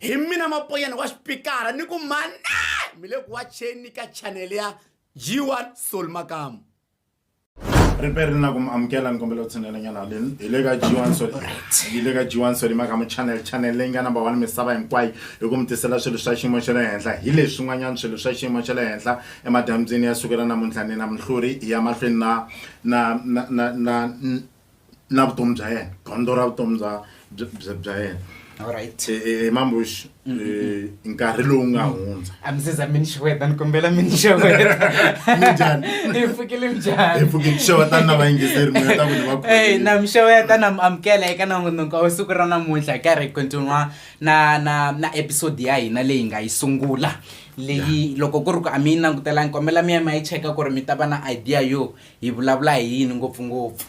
hi mina mapoyana wa xipikara ni ku mane mi le ku wacheni ka chanele ya g1 sol makamu ri pe ri na ku mi amukela ni kombela ku tshinelanyana haleni hi le ka g1 sol hi le ka g1 sol makamu chanel chanel leyi nga number one misava hinkwayo hi ku mi tisela swilo swa xiyimo xa le henhla hi leswi swin'wanyana swilo swa xiyimo xa le henhla emadambyini ya sukela namuntlha ni na minhluri ya mahlweni na na na na na na vutomi bya yena gondzo ra vutomi bya bya yena alright e, e, e, mambush nkarhi lowu nga hundza a mi seza mini xiweta ni kombela mini xiwetanjani hi pfukile njhani hi pfukile xeweta na vayingiseri muyeta ku ni va ey na mi xeweta na mi amukela eka nangonoko wa siku ra namuntlha ka ri continua na na na episode ya hina leyi nga yi sungula leyi loko ku ri ku a mi yi langutelangi kombela mi ya mi ya yi cheka ku ri mi ta va na idea yo Hi vulavula hi yini ngopfu-ngopfu?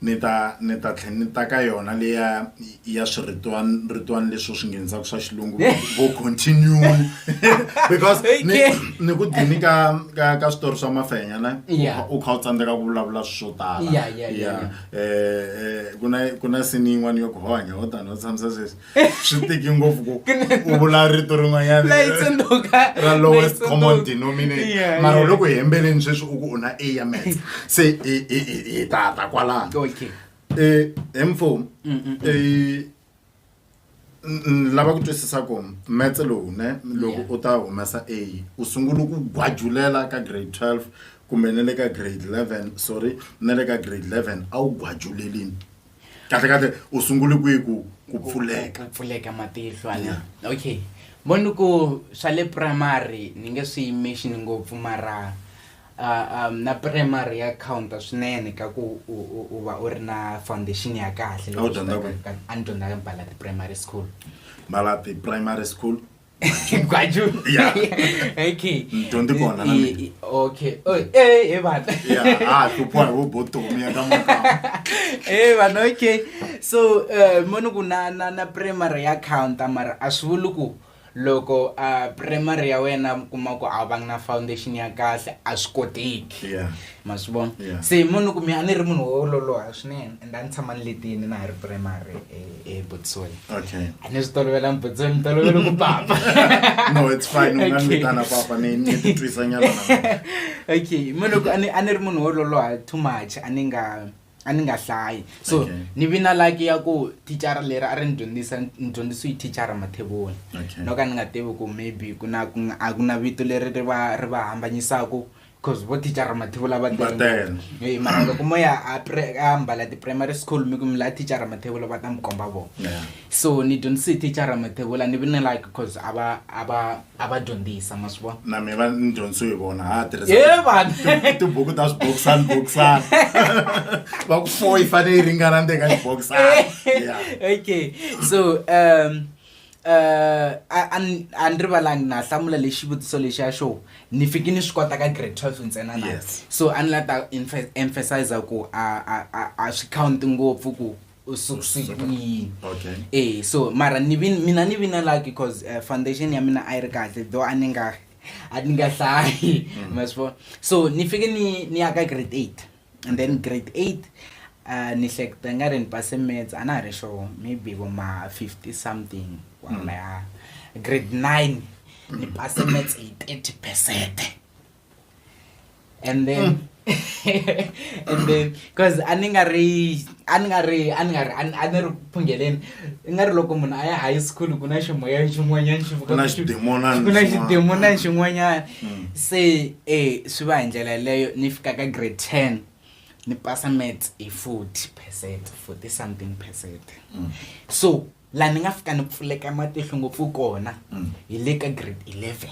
Ni ta ni ta tlhe ni ta ka yona leya ya swiritwan ritwani leswo swi nghenizaka swa xilungu vo continue because ni ni ku dini ka ka ka switori swa mafenya ne u kha u tsandzeka ku vulavula swo tala ya ku na ku na sini yin'wani yo ku hanya ho tani ho tshamisa sweswi. swi tiki ngopfu ku u vula rito rin'wanyana lowest common denominator mara loko hi hembeleni sweswi u ku u na a ya mats se hi tata kwalano um eh, hi mfumo mm, mm, mm. Eh, lava ku twisisa ku metse lowu ne loko u ta humesa a u sungula ku gwajulela ka grade 12 kumbe ne le ka grade 11 sorry ne le ka grade 11 a wu gwajulelini kahle kahle u sungule kwihi ku ku pfuleka ku pfuleka matihlo ana okay mo ni ku swa le primary ni nge swi yimixini ngopfu mara uh, um, na primary ya counta swinene ka ku u va u ri na foundation ya kahle a ni dyondza ka mpalati primary school mpalati primary school gwaju Yeah. okay Mtondi kona na mina. I- okay oh eh hey bana Yeah, ah, hluphiwa hi vubotomi eka makamba. Eh vanhu okay so eh moni ku na na na primary ya counter mara a swi vuli ku loko a primary ya wena mi kuma ku a va na foundation ya kahle a swi koteki Yeah. ma swi vona Yeah. se munhu kumbe a ni ri munhu wo loloha swinene and a ni tshama ni letini na ha ri primary e- ebotsweni okay a ni swi tolovela mbotsweni ni tolovela ku papa no it's fine u nga ni Okay. vitana papa ni ni titwisa nyana na okay mo loko a ni a ni ri munhu wo loloha too much a ni nga a ni nga hlayi so Okay. ni vi na laki ya ku thicara leri a ri ni dyondzisa ni dyondzisiwe hi thicara mathevoni Okay. no ka ni nga tivi ku maybe ku na ku nga- a ku na vito leri ri va ri va hambanyisaku cause vo thicara mathevula va Va tele. Eh, mara loko mo ya a pre- a mbala ti-primary school mi ku mi la thicara mathevula va ta mi komba vona Yeah. so ni dyondzise thicara mathevula ni vi ni like cause a va a va a va dyondzisa ma swi vona na mina va ni dyondzisiwe hi vona ha tirhisa ye vanhu Ti- tibuku ta swibokisani bokisani va ku four yi fanele yi ringana ndzeni ka xibokisani Yeah. okay so um eh, a ni rivalangi na hlamula lexi xivutiso lexiya xo ni fiki ni swi kota ka grade twelve ntsena na so a ni la ta emphasiza ku a swi counti ngopfu ku usukusukuini okay. e so mara ni vi, mina ni vi na lucky cause uh, foundation ya mina a yi ri kahle though a ni nga a ni nga hlayi mm. ma swi vona so ni fike ni ni ya ka grade eight and then grade eight uh, ni hleketa nga ri ni pase mats a na ha ri sure maybe vo ma fifty something kwalaya mm. grade nine ni pase mats hi thirty percent and then mm. and then because a ni nga ri a ni nga ri a ni nga ri a ni- a ni ri ku phungheleni i nga ri loko munhu a ya high school ku na ximoya xin'wanyana xi vuka Ku na ku xi- xidemonana ku na xin'wana. xidemonana xin'wanyana Mm. se eh swi va hi ndlela yeleyo ni fika ka grade ten ni pasa maths hi forty percent forty something percent Mm. so laha ni nga fika ni pfuleka matihlo ngopfu kona Mm. hi le ka grade eleven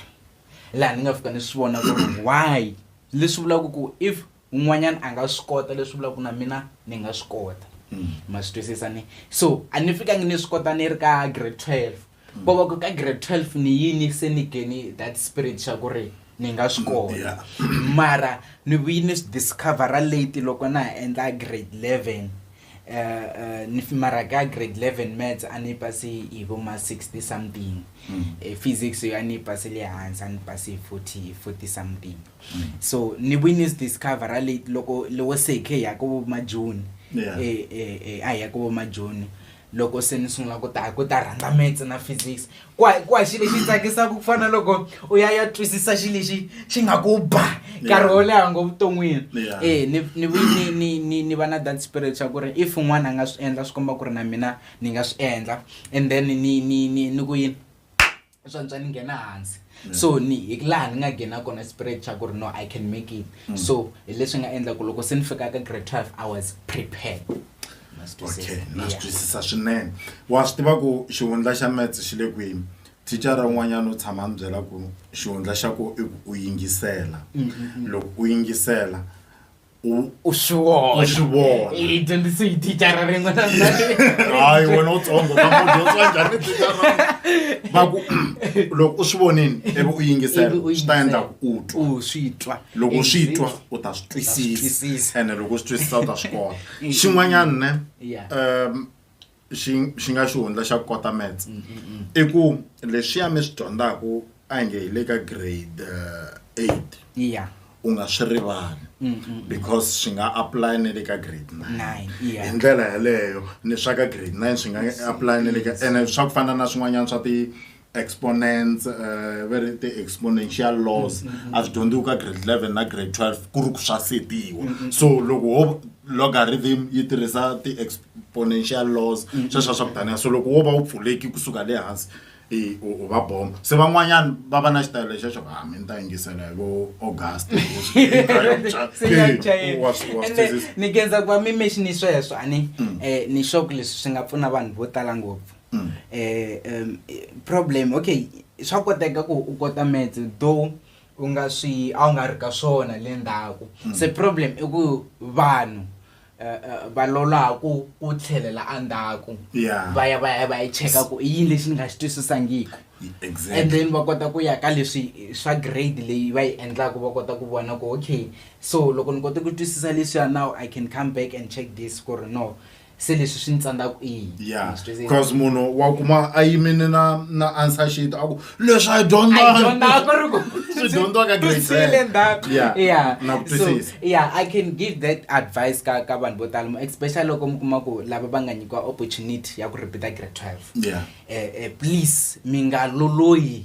laha ni nga fika ni swi vona ku ri why leswi vulaka ku if un'wanyana a nga swi kota leswi vulaka ku na mina ni nga swi kota ma swi twisisa ni so a ni fikangi ni swi kota ni ri ka grade 12 ko va ku ka grade 12 ni yini se ni geni that spirit xa ku ri ni nga swi kota Yeah. mara ni vuyi ni swi discovera late loko na ha endla grade 11 Uh, uh, ni fi- mara ka grade 11 maths a ni pasi hi vo ma 60 something Eh, physics yo a ni yi pasele hansi a ni pasi hi 40 40 something mm. so ni we news discover ra late loko lowo se khe ya ko ma june yeah. eh eh eh a ya ko ma june loko se ni sungula ku ta ku ta rhandza maths na physics kwa kwa xi lexi tsakisaka ku fana loko u ya ya twisisa xi lexi xi nga ku ba nkarhi wo leha ngo vuton'wini e ni ni ni ni ni ni va na that spirit xa ku ri if un'wana a nga swi endla swi komba ku ri na mina ni nga swi endla and then ni ni ni ni ku yini swantswa ni nghena hansi so ni hi laha ni nga nghena kona spirit xa ku ri no i can make it mm. so hi leswi nga endla ku loko se ni fika ka grade 12 i was prepared okay na swi twisisa swinene wa swi tiva ku xihundla xa metse xi le kwini thicara un'wanyana u tshama ni byela ku xihundla xa ku i ku u yingisela mm, mm, loko u yingisela u u swi vona u swi vona hi dyondzise hi thicara rin'we na hayi wena u tsongo kamudyondzisa njhani thicara va ku loko u swi vonini ivi u yingisela swi ta endla ku u twa u swi twa loko swi twa u ta swi twisisa ene loko u swi twisisa u ta swi kota xin'wanyana ne um xi xi nga xihundla xa ku kota maths i ku leswiya mi swi dyondzaku a hi nge hi le ka grade eh, eight iya u nga swi rivali because swi nga apply ni le ka grade nine nine hi iya ndlela yeleyo ni swa ka grade nine swi nga apply ni le ka ene swa ku fana na swin'wanyana swa ti exponents uh, va ri ti-exponential laws mm, mm, mm. a swi dyondziwi ka grade eleven na grade twelve ku ri ku swa setiwa so loko ho logarithm yi tirhisa ti-exponential laws sweswa swa ku taniya so loko wo va wu pfuleki kusuka le hansi u va bomba se van'wanyana va va na xitayelo lexa xo ha ah, mi ni ta yingisela hi vo august ni kenza ku va mi mexi ni sweswo a ni um ni xoku leswi swi nga pfuna vanhu vo tala ngopfu mm. eh, um, problem okay swa koteka ku u kota maths though u nga swi a wu nga ri ka swona le ndzhaku mm. se problem i ku vanhu eh, eh, va lolaku ku tlhelela endzhaku va ya va ya va yi cheka ku i yini lexi ni nga xi twisisangiki exactly. and then va kota ku ya ka leswi swa grade leyi va yi endlaka va kota ku vona ku okay so loko ni kote ku twisisa leswiya now i can come back and check this ku ri no se leswi swi ni tsandzaku i yini ya Ma swi twisisa? because munhu wa kuma a yimini na na answer sheet a ku leswi a yi dyondzaka I don't know, ku ri ku- Swi dyondziwa ka grade swi le ten. ndzhaku. Yeah, Yeah. na ku So, twisisa. yeah, I can give that advice ka ka vanhu vo tala mo- especially loko mi kuma ku lava va nga nyikiwa opportunity ya ku repeata grade 12 Yeah. eh, eh, please mi nga loloyi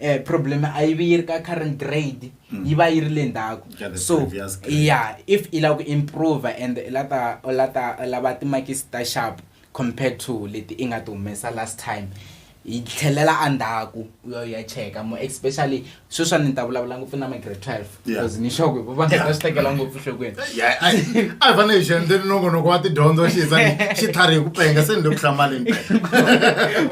eh, problem a yi vi yi ri ka current grade mm. yi va yi ri le ndzhaku so ya if i lava ku improve and i la ta u la ta u lava timakisi ta sharp compared to leti i nga ti humesa last time yi tlhelela endzhaku u ya u ya cheka mo especially sweswa ni ta vulavula ngopfu na ma-grade twelve because ni sure ku va nga ta swi tekela ngopfu nhlokweni Yeah, a hi a hi fanele hi xi endleni nongonoko wa tidyondzo xi yisa ni xitlhari hi ku penga se ni le ku hlamaleni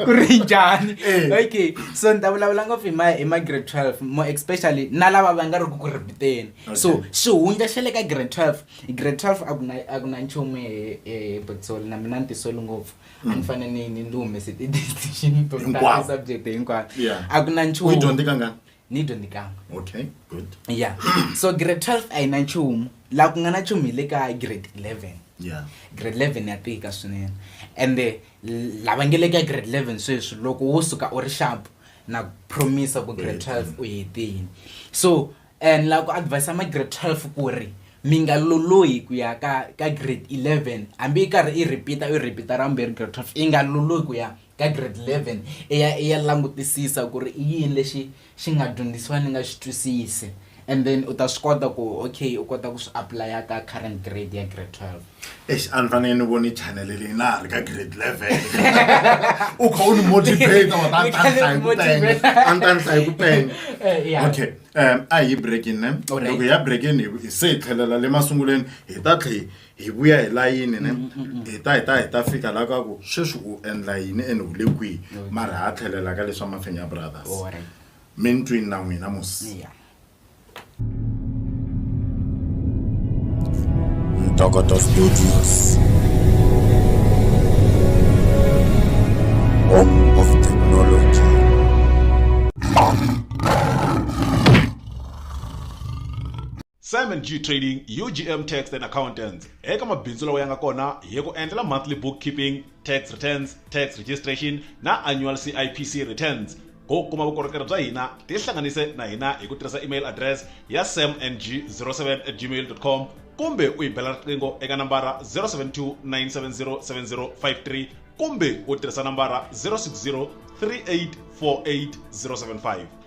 ku ri njhani Eh. okay so ni ta vulavula ngopfu hi ma hi ma grade 12 mo especially na lava va nga ri ku ku ripiteni so Okay. xihundla xa le ka grade 12 grade 12 a ku na a ku na nchumu hi- hi botsoli na mina ni tisoli ngopfu a ni fanele ni ni ni humese ti-decision to tala Mm. Hinkwavo. subject hinkwayo Yeah. a ku na u yi nchumu dyondze kangani ni dyondzikanga okay good ya so grade 12 a yi na nchumu laha ku nga na nchumu hi le ka grade 11 yeah grade 11 ya tika swinene ende l- lava nge le ka grade 11 sweswi loko wo suka u ri sharp na ku promisa ku grade 12 u hetini so and la ku advise ma grade 12 ku ri mi nga lolohi ku ya ka ka grade 11 hambi yi karhi i repeata u repeata ra vumbirhi grade 12 yi nga lolohi ku ya ka grade 11 i ya i ya langutisisa ku ri i yini lexi xi nga dyondzisiwa ni nga xi twisisi and then u ta swi kota ku okay u kota ku swi apply-a ka current grade ya grade 12 Eish, a ni fanele ni voni channel leyi na ha ri ka grade 11 u kha u ni motivate wa ta Ni kha ni ni ta ni hlayi ku penya motivate. a ni ta ni hlayi ku penya Eh, yeah. okay um a hi breakin ne Alright. loko hi ya breakin hi hi se hi tlhelela le masungulweni hi ta tlhe hi vuya hi layini ne hi ta hi ta hi ta fika la ka ku sweswi u endla yini ene u le kwihi mara ha tlhelela ka leswa mafenya brothers Alright. mi ni twini na n'wina mos Yeah. ntokoto studios home of technology Simon G Trading, UGM Tax and Accountants, eka mabindzu lawa ya nga kona hi ku endlela monthly bookkeeping, tax returns, tax registration na annual CIPC returns. Ku kuma vukorhokeri bya hina, tihlanganise na hina hi ku tirhisa email address ya samng07 at gmail.com kumbe u hi bela riqingho eka nambara 072 970 7053 kumbe u tirhisa nambara 060 3848 075.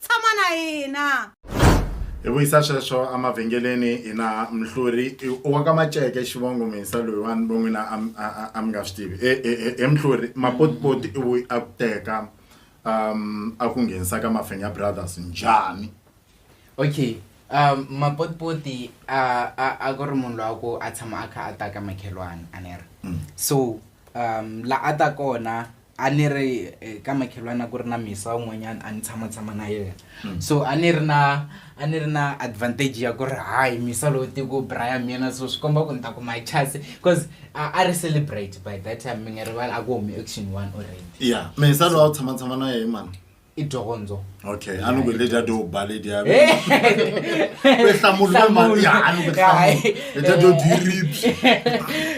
tshama na hina hi vuyisa sweswo emavhengeleni hi na mhluri wa ka maceke xivongo misa loyiwani vo n'wina a mi nga swi tivi e, e, e, he mhluri mapotipoti i vuyi a ku teka um a ku nghenisa ka mafenya brothers njhani okay um mapotipoti a ku ri munhu lowa ku a tshama a kha a ta ka makhelwani a ni ri mm. so um la a ta kona a ni ri eh, ka makhelwana ku ri na misa un'wanyana a ni tshamatshama na yena hmm. so a ni ri na a ni ri na advantage ya ku ri hayi misa lowu tiku brian mina so swi komba ku ni ta kuma chance because a ri celebrate by that time mi nga rivali a ku humi action one already ya misa lowu a wu tshamatshama na yehe mani i dyondzo okay a ni ku leta to ba leti ya ku hlamula mali ya a ni ku leta to diribs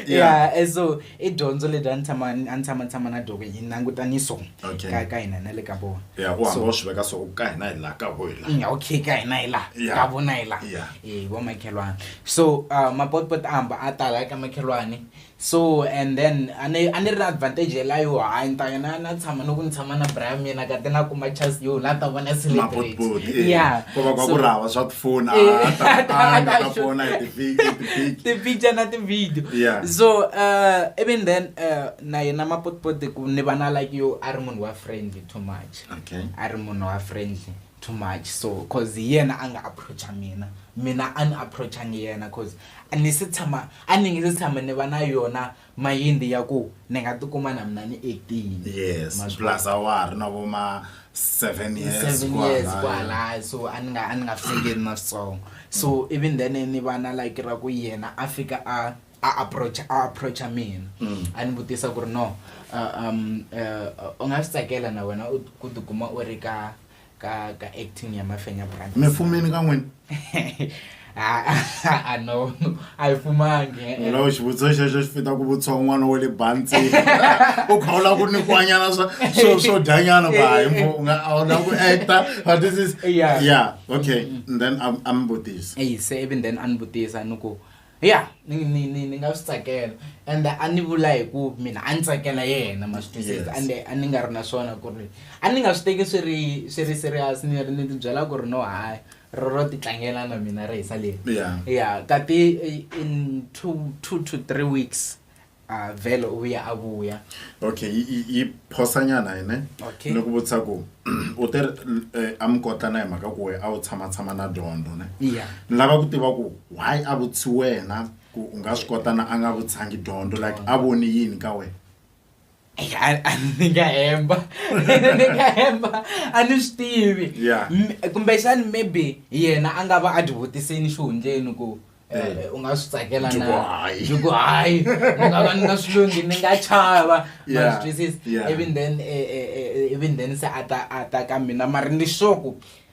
yeah eh, so i dyondzo leti a ni tshama a ni tshama tshama na doko yi languta ni so ka ka hina na le ka vona yeah u hamba u swi veka so ka hina hi la ka ho hi la mm, okay ka hina hi la ka vona hi la eh vo makhelwani so uh, mapotpot a hamba a tala ka makhelwani so and then a ni a ni ri na advantage ya liya yo hayi ni ta ya na na tshama ni ku ni tshama na bra ya mina ka te na kuma chance yo la ta vona celebrate mabotiboti yeah ko va kwa ku ri hava swa tifoni a Eh, a ta- a ta a nga ta sure. vona hi ti-pic- hi ti-pic. ti-picture na ti-video Yeah. so uh, even then uh, na yena mapotipoti ku ni va na like yo a ri munhu wa friendly too much okay a ri munhu wa friendly too much so cause hi yena a nga approacha mina mina a ni approachangi yena cause A ni se tshama a ni nge se tshama ni va na yona mayindi ya ku ni nga tikuma na mina ni actile yes plus a wa ha ri na vo ma seven years seven years kwalaya so a ni nga a ni nga fikeli na switsongo so mm. even then ni va na like ra ku yena a fika a a approach a approacha mina mm. a ni vutisa ku ri no uh, um uh, u nga swi tsakela na wena ku tikuma u ri ka ka ka acting ya mafenya brothers mi fumini ka n'wina a no a yi fumangi eh, eh. lawo xivutiso xexo xi fita ku vutisa un'wana wa le bantsini u kha u lava ku nikiwanyana swa swo swo dyanyana ku hayi eh, mbo u nga a wu lava ku acta but this is yeah okay mm, mm. and then a mi vutisa se ivi then a ni vutisa ni ku ya ni ni ni ni nga swi tsakela and a ni vula hi ku mina a ni tsakela yena ma swi twisisa Yes. ande a ni nga ri na swona ku ri a ni nga swi teki swi ri swi ri serious ni ri ni ti byela ku ri no hayi ro ro ti tlangela na mina ri hisa leri Yeah. ya ka ti in two two to three weeks a vhele u vuya a vuya okay yi phosanyana yine okay. ni ku vutisa ku u te eh, a mi kota na hi mhaka ku we a wu tshama tshama na dyondzo ne yeah. ni lava ku tiva ku why a vutisi wena ku u nga swi kota na a nga vutsangi dyondzo like a voni yini ka wena I, I ni nga hemba ni nga hemba a ni swi tivi Yeah. M- kumbexani maybe yena a nga va a byi vutisini xihundleni ku eh, u nga swi tsakela Byi ku na hayi. byi ku hayi ni nga va ni nga swi lunghi ni nga chava Yeah, ma swi twisisa yeah. even then eh, eh, eh, even then se a ta a ta ka mina mara ni sure ku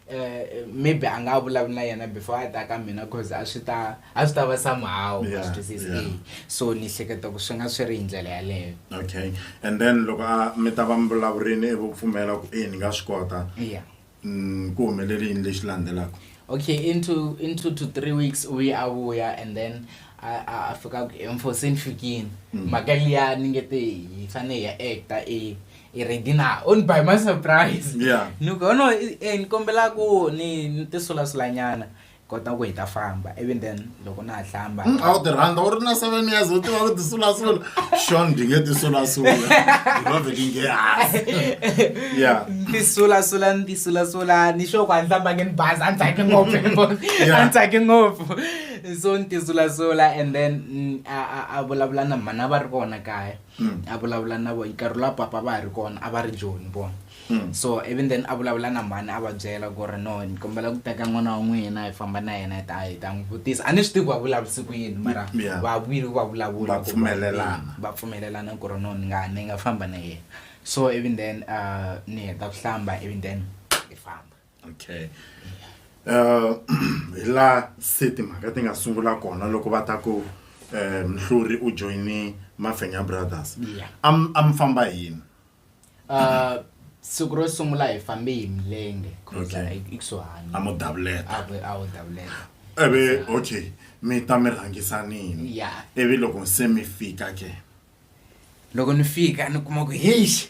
eh, maybe a nga vulavula na yena before a ta ka mina cause a swi ta a swi ta va somehow yeah, swi twisisi yeah. Eh, so ni hleketa ku swi nga swi ri hi ndlela yaleyo okay and then loko a mi ta va mi vulavurini i vo pfumela ku e ni nga swi kota yeah. mm, ku humeleli yini lexi landzelaka okay into into to three weeks u ye a vuya and then a fika ku emfosini fikini mm. mhaka liya ni nge te hi fane hi ya acta e i ready na o ni by my surprise yeah. ni ku no eh, ni kombela ku ni ni tisulasulanyana kota ku hi ta famba even then loko na ha hlamba mm, a wu ti rhandza u ri na seven years u tiva ku tisulasula xon ndi nge tisulasula ndivaveki nge hasi ya ni sulasula ni tisulasula ni xo ku a ni hlambange ni bazi a ni tsaki ngopfu a ni tsaki ngopfu so ni tisulasula and then mm, a vulavula na mhana va ri kona kaya Mm. a vulavula na vona nkarhi la papa va ha ri kona a va ri joni vona mm. so even then a vulavula na mhani a va byela ku ri no ni kombela ku teka n'wana wa n'wina hi famba na yena hi ta hi ta n'wi vutisa a ni swi tivi va vulavurisi ku yini mara va vuyile va vulavula va pfumelelana ku ri no ni nga ni nga famba na yena so even then uh, ni heta ku hlamba even then hi famba okay uh hi laha se timhaka ti nga sungula kona loko va ta ku um mhluri u joyine mafenya brothers a mi famba yini uh siku ro sungula hi fambe hi milenge ikusuhani a mo davuleta a wo davuleta eve okay mi ta mi rhangisanini ivi loko se mi fika ke loko ni fika ni kuma ku heish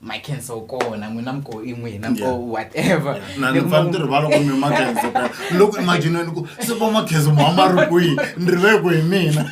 my cancer u kona n'wina mi ko i n'wina mi ko Yeah. whatever na ni pfa ni ti rivala ku mi makhenso ka loko imagineni ku se va makhenso ma ma ri kwihi ni rive ku hi mina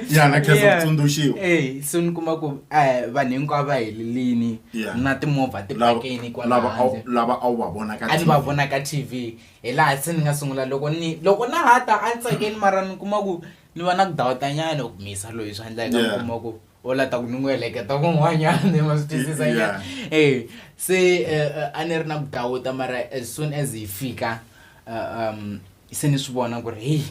ya na khenso Yeah. tsundzuxiwa Eh, so ni kuma ku eh, vanhu hinkwavo va helelini Yeah. na timovha ti Lava- pakeni lava a wu- kwalahandle lava a wu va vona ka a ni va TV. vona ka tv hi laha se ni nga sungula loko ni loko na ha ta a ni tsakeli mara ni kuma ku ni va na ku dawutanyana ku misa loyi swa endlaka ni Yeah. kuma ku o lata ku ni n'wi heleketa kun'wanyana ma swi twisisa yeah. e se uh, a ni ri na ku dawuta mara as soon as hi fika uh, um, se ni swi vona ku ri heyi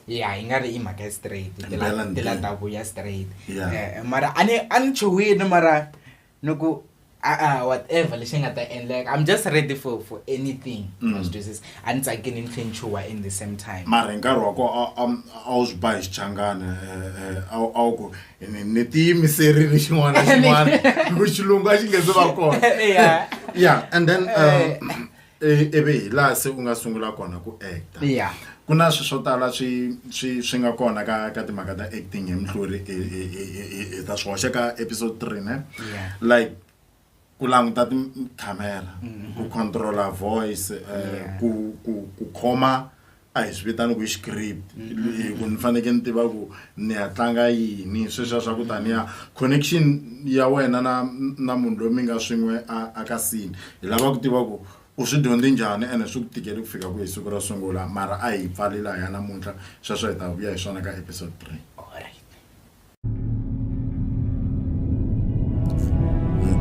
ya hi nga ri i mhaka ya straight ti la ta vuya straight eh, mara a ni a ni chuwile mara ni ku a-a whatever lexi nga ta endleka i'm just ready for for anything mm. ma swi twisisa a ni tsakini ni tlhe ni chuha in the same time mara hi nkarhi wa ko a wu swi ba hi xichangana eh, eh, a wu ku ni tiyimiserile xin'wana na xin'wana ku xilungu a xi nge se va kona ya and then um, i- ivi hi laha se u nga sungula kona ku actor ya ku na swi swo tala swi swi swi nga kona ka ka timhaka ta acting hi muhluri hi- hi- hi- hi- hi- hi ta swi hoxa ka episode three ne Yeah. like ku languta tikhamera ku controla voice eh, Yeah. ku ku ku khoma a hi swi vitani ku i script hi ku ni faneke ni tiva ku ni ya tlanga yini sweswiya swa ku taniya connection ya wena na na munhu loyi mi nga swin'we a a ka sini hi lava ku tiva ku u swi dyondze njhani ene swi ku tikele ku fika ku hi siku ro sungula mara a hi pfali lahaya namuntlha sweswo hi ta vuya hi swona ka episode three.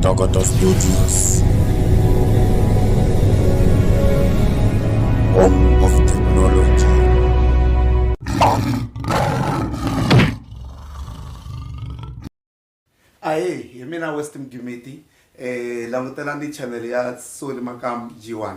Togoto Studios. Home of technology. ahe hi mina west mdumeti um langutelani channel ya soli makam g1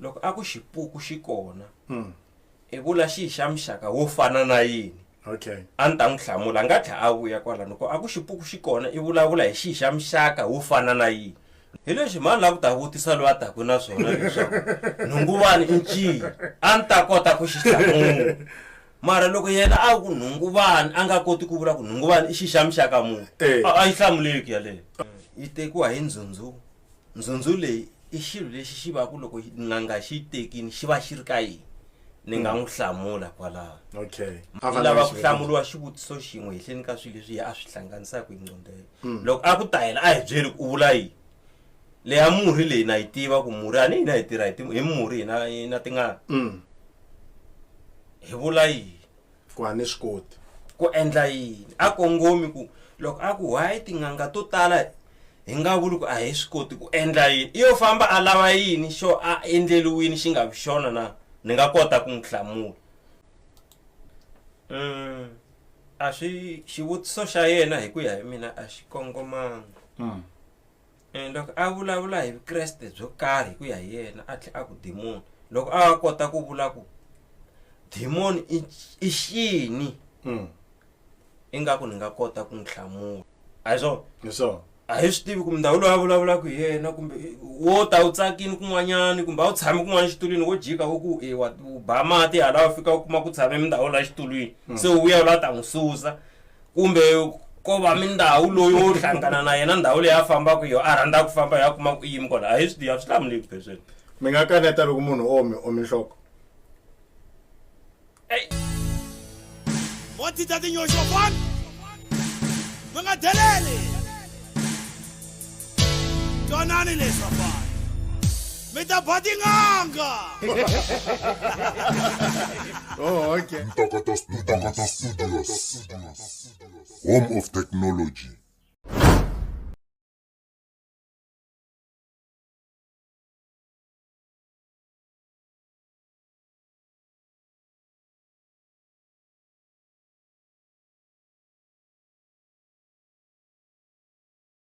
loko a ku xipuku xi kona mm. i vula xi xa muxaka wo fana na yini okay a ni ta n'wi hlamula a nga tlha a vuya kwala loko a ku xipuku xi kona i vulavula hi xi xa muxaka wo fana na yini hi leswi mani la ku ta vutisa loyi a taku na swona leswaku nhunguvani i nciyi a ni ta kota ku xi hlamula mara loko yena a ku nhunguvani a nga koti ku vula ku nhunguvani i xi xa muxaka munhu eh. a yi hlamuleki yaleyo yi tekiwa hi ndzhundzu ndzhundzhu leyi i xilo lexi xi va ku loko n'anga xi yi tekini xi va xi ri ka yini ni nga n'wi hlamula kwalaho okay a va lava ku hlamuriwa xivutiso xin'we hehleni ka swilo leswi a swi hlanganisaka hi nqondelo hmm. loko a ku ta yena a hi byeli ku u vula yini leya murhi leyi na yi tiva ku murhi a ni hina hi tirha hi murhi hina na tingana hmm. hi vula yini Ku a ni swi koti. Ku endla yini? A kongomi ku loko a ku why tin'anga to tala hi nga vuli ku a hi swi koti ku endla yini? I yo famba a lava yini xo a endleriwini xi nga vi xona na? Ni nga kota ku n'wi hlamula. Mm, a swi xivutiso xa yena hi ku ya hi mina a xi kongomanga. Eh, loko a vulavula hi vukreste byo karhi hi ku ya hi yena a tlhe a ku dimoni loko a kota ku vula ku dimoni i xini mm. ingaku ni nga kota ku n'wi hlamula a hi swona hi swona a hi swi tivi kumbe ndhawu loyi a vulavulaka hi yena kumbe wo ta wu tsakini kun'wanyani kumbe a wu tshami kun'wana xitulwini wo jika wo ku e wa ba mati hala u fika u kuma ku tshame mindhawu la xitulwini hmm. se u vuya u la ta n'wi susa kumbe ko va mindhawu loyi wo hlangana na yena ndhawu leyi a fambaka yo a rhandza ku famba ya kuma ku yimi kona a hi swi a swi hlamuleki phesweni mi nga kaneta loko munhu o mi omi nhloko vo titsa tinyoxo fana mi nga deleli twanani leswi vafana mi ta ba tin'anga oh, okay. ntokoto studios home of technology